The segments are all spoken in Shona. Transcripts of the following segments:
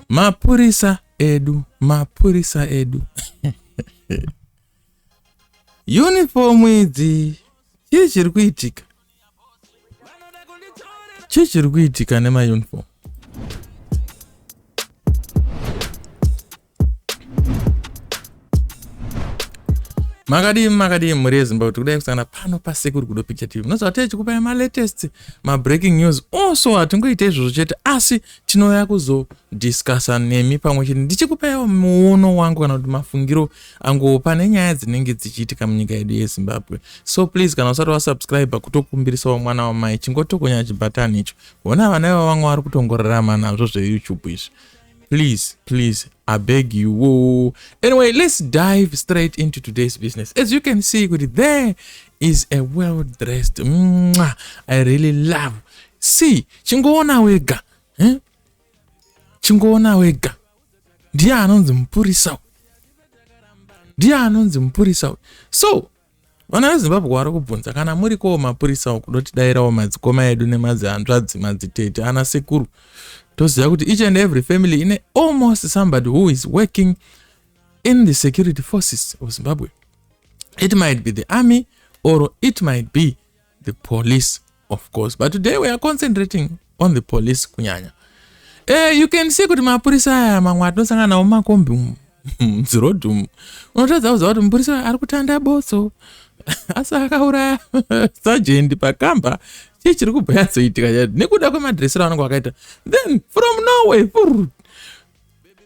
mapurisa edu mapurisa edu uniform idzi chii chiri kuitika chii chiri kuitika nemauniform makadii makadii mhuri yezimbabwe kuti kudai kusangana pano pasekuru kudo picture tv munoziva techikupai malatest mabreaking news also hatingoite izvozvo chete asi tinouya kuzodiscussa nemi pamwe chete ndichikupaiwo muono wangu kana kuti mafungiro anguwo pane nyaya dzinenge dzichiitika munyika yedu yezimbabwe so please kana usati wasubscribe kutokumbirisawo mwana wamai chingotokonya chibhatani icho hona vana iva vamwe vari kutongorarama nazvo zveyoutube izvi please please i beg you woo anyway let's dive straight into today's business as you can see kuti there is a well dressed Mwah, i really love see chingoona wega eh? chingoona wega ndiye anonzi mupurisa ndiye anonzi mupurisa so Vana veZimbabwe wari kubvunza kana muri kowo mapurisa uku dotidairawo madzikoma edu nemadzihanzvadzi madzitete ana sekuru toziva kuti each and every family ine almost somebody who is working in the security forces of Zimbabwe it might be the army or it might be the police of course but today we are concentrating on the police kunyanya eh, you can see kuti mapurisa aya mamwe atinosangana nawo mumakombi umu mzirodhi umu unotadza kuziva kuti mupurisa ari kutanda botso asi akauraya sajendi pakamba chii chiri kubva yatsoitika chati nekuda kwemadresero anenge wakaita then from norway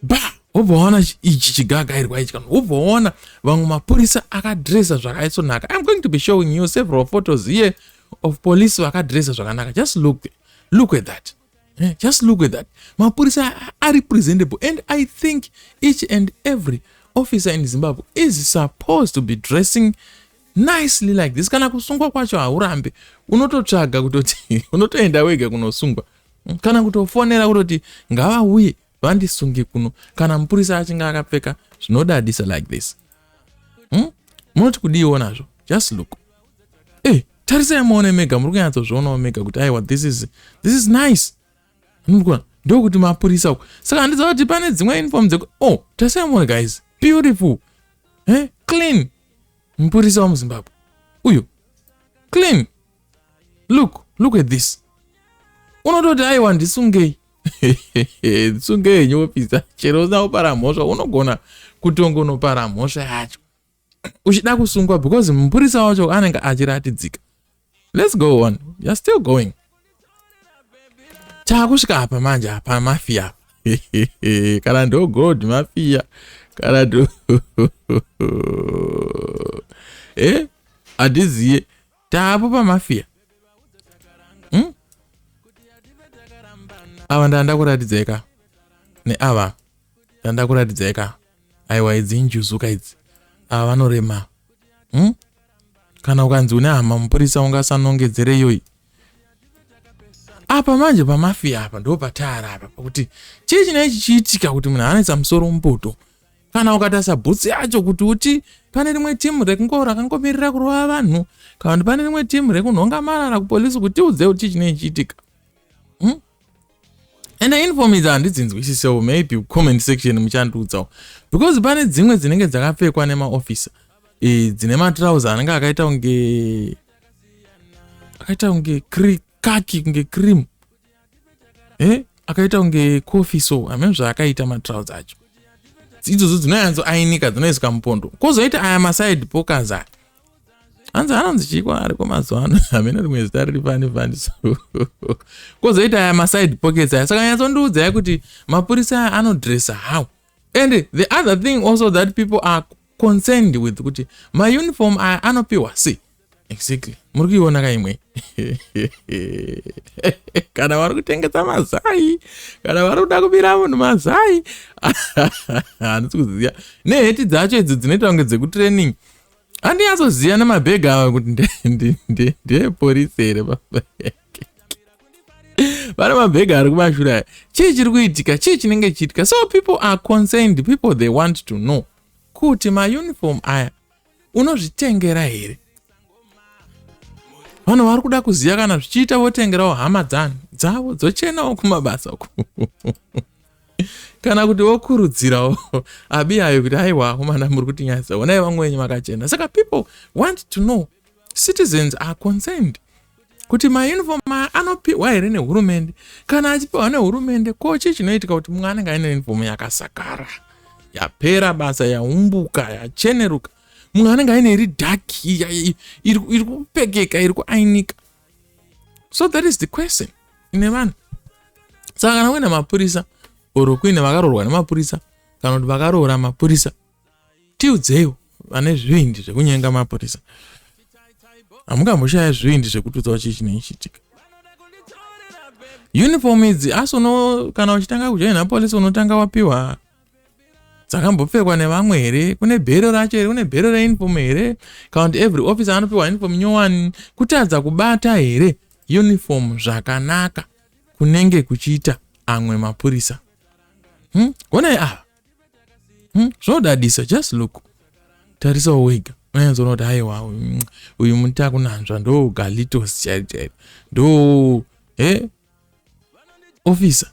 ba wobva waona ichi chigagairwa ichi kana wobva waona vamwe mapurisa akadresa zvakaisonaka iam going to be showing you several photos here of police vakadresa zvakanaka just look look at that eh, just look at that mapurisa ari presentable and i think each and every officer in zimbabwe is supposed to be dressing nicely like this kana kusungwa kwacho haurambe unototsvaga kutoti unotoenda wega kunosungwa kana kutofonera kutoti ngavauye vandisunge kuno kana mupurisa achinge akapfeka zvinodadisa like this hmm? munoti kudiiwo nazvo just look e eh, tarisai muone mega muri kunyatsozvionawo mega kuti aiwa this is, this is nice anokona ndokuti mapurisa uku saka handiza kuti pane dzimwe uniform dzeku o oh, tarisai muone guys beautiful eh? clean mupurisa wamuzimbabwe uyu clean look look at this unototi aiwa ndisungei ndisungei henyu wopisa chero usina kupara mhosva unogona kutongonopara mhosva yacho uchida kusungwa because mupurisa wacho anenge achiratidzika let's go on you're still going taakusvika apa manje apa mafia kana ndo god mafia kana ndo eh hatiziye taapo pamafia hmm? ava ndandakuratidzeka neava ndandakuratidzeka aiwa idzi injuzuka idzi ava vanorema hmm? kana ukanzi une hama mupurisa ungasanongedzere iyoyi apa manje pamafia apa ndo pataara apa pakuti chii chinei chichiitika kuti munhu anetsa musoro mupoto kana ukatarisa bhutsi yacho kuti uti pane rimwe timu rekungo rakangomirira kurova vanhu kana kuti pane rimwe timu rekunhonga marara kupolisi kuti tiudze kuti chinei chiitika hmm? and inform idzi handidzinzwisisewo maybe comment section muchandiudzawo because pane dzimwe dzinenge dzakapfekwa nemaofisa e, dzine matrauser anenge akaita kunge akaita kunge kaki kunge cream eh akaita kunge coffee so hameno zvaakaita matrouse acho idzodzo dzinoyanzo ainika dzinoiswa mupondo kwozoita aya maside pokers aya hanzi hanonzi chiko ariko mazuva ano hameno rimwe zita riri fani fani so kwozoita aya maside pockets aya saka nyatsondiudzai kuti mapurisa aya anodressa how and the other thing also that people are concerned with kuti mauniform aya anopiwa si exactly muri kuiona kaimwe kana vari kutengesa mazai kana vari kuda kubira munhu mazai handisi kuziva neheti dzacho idzo dzinoita kunge dzekutraining andinyatsoziva nemabhega awa kuti ndepolisi here vana mabhega ari kumashure chii chiri kuitika chii chinenge chiitika so people are concerned people they want to know kuti mauniform aya unozvitengera here vanhu vari kuda kuziva kana zvichiita votengerawo hama dzani dzavo dzochenawo kumabasa uku kana kuti vokurudzirawo abi ayo kuti aiwa komana muri kutinyadzisa onai vamwe venyu makachena saka people want to know citizens are concerned kuti mayunifomu aya anopihwa here nehurumende kana achipihwa nehurumende ko chii chinoitika kuti mumwe anenge aine yunifomu yakasakara yapera basa yaumbuka yacheneruka mumwe anenge aine iri dhaki iri kupekeka iri kuainika so that is the question ine vanhu saka kana kuine mapurisa or kuine vakarorwa nemapurisa kana kuti vakaroora mapurisa tiudzeiwo vane zvivindi zvekunyenga mapurisa hamungamboshaya zvivindi zvekutudzwa chii chinoichitika uniform idzi asi uno kana uchitanga kujoina polisi unotanga wapiwa dzakambopfekwa nevamwe here kune bhero racho here kune bhero reuniform here kana kuti every officer anopiwa uniform nyowani kutadza kubata here uniform zvakanaka kunenge kuchiita amwe mapurisa hmm? onai ava hmm? zvinodadisa just look tarisawo wega unyanzona kuti haiwa mm, uyu muti akunanzva ndo galitos chairo chairo ndo he officer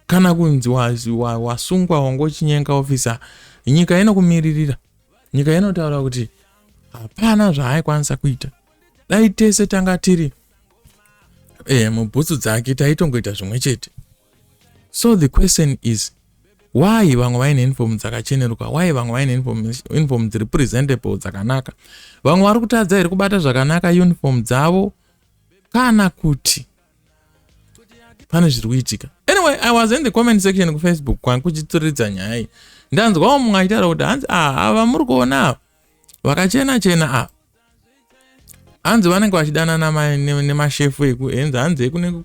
kana kunzi wasungwa wangochinyenga officer nyika inokumiririra nyika inotaura kuti hapana zvaaikwanisa kuita dai tese tanga tiri e, mubhutsu dzake taitongoita zvimwe chete so the question is why vamwe vaine inform dzakacheneruka why vamwe vaine inform dziri presentable dzakanaka vamwe vari kutadza here kubata zvakanaka uniform dzavo kana kuti pane zviri kuitika anyway i was in the comment section kufacebook kwangu kuchituridza nyaya iyi ndanzwawo mumwe achitaura kuti hanzi ah, ava muri kuona ava vakachena chena ava hanzi vanenge vachidanana nemashefu eku henzi hanzi ekune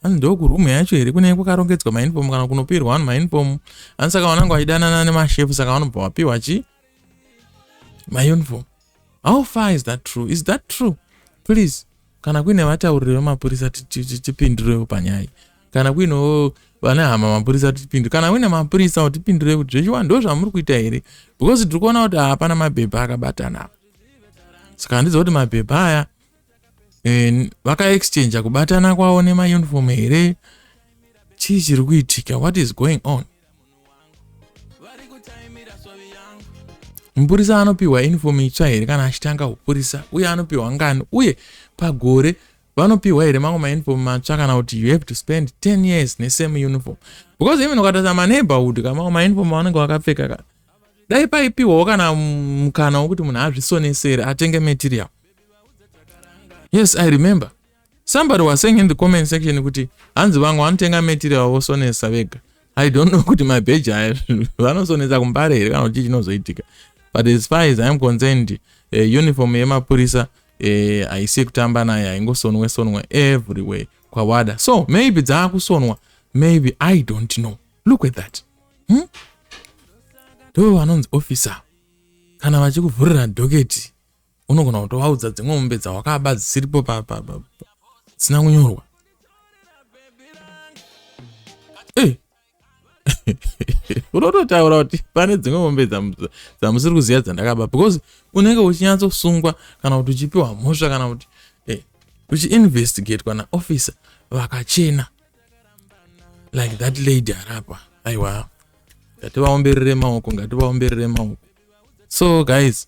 hanzi ndokurumu yacho here kunenge kwakarongedzwa mainfom kana kunopirwa vanhu mainfom hanzi saka vananga vachidanana nemashefu saka vanobva vapiwa chi mauniform how far is that true is that true please kana kuine vatauriri vemapurisa tipindurewo panyaya iyi kana kuinewo vane hama mapurisa tipindure kana uine mapurisa wo tipindure kuti zvechiwa ndo zvamuri kuita here because tiri kuona kuti hapana mabhebha akabatana apa saka handizi kuti mabhebha aya eh, vakaexchangea kubatana kwavo nemauniform here chii chiri kuitika what is going on Mupurisa anopiwa uniform itsva here kana achitanga upurisa uye anopiwa ngani uye pagore vanopiwa here mamwe mauniform matsva kana kuti you have to spend 10 years nesame uniform because even ukatarisa maneighborhood ka mamwe mauniform avanenge vakapfeka ka dai paipiwawo kana mukana wokuti munhu azvisonesere atenge material yes i remember somebody was saying in the comment section kuti hanzi vangu vanotenga metiri avo vosonesa vega i don't know kuti mabheji aya vanosonesa kumbare here kana kuti chinozoitika but as far as iam concerned uh, uniform yemapurisa eh, haisi uh, yekutamba nayo haingosonwe sonwe everywhere kwawada so maybe dzaakusonwa maybe i don't know look at that hmm? ndo vanonzi officer kana vachikuvhurira dhoketi unogona kutovaudza dzimwe mombe dzawakaba dzisiripo dzisina kunyorwa eh. unototaura kuti pane dzimwe mombe dzamusiri kuziva dzandakaba because unenge uchinyatsosungwa kana kuti uchipiwa mhosva kana kuti eh, uchiinvestigatwa naofficer vakachena like that lady arapa aiwa ngativaomberere maoko ngativaomberere maoko so guys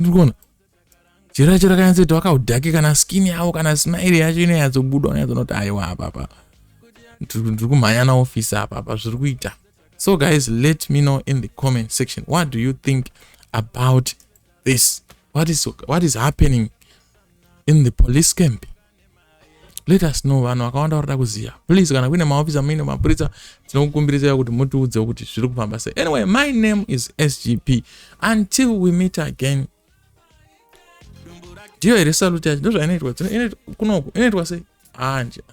ndikuona chero yacho rakanyatsoita wakaudhake kana skin yavo kana smile yacho inonyatsobuda unyatsonoti aiwa apapa ndiri kumhanya naofisi apapa zviri kuita so guys let me know in the comment section what do you think about this what is, what is happening in the police camp let us know vanhu vakawanda varikuda kuziva please kana kuine maofisi amuine mapurisa tinokukumbirirai kuti mutiudzewo kuti zviri kufamba sei anyway my name is sgp until we meet again ndiyo here saluti yacho ndozvainoitwa kunoku inoitwa sei anja ah,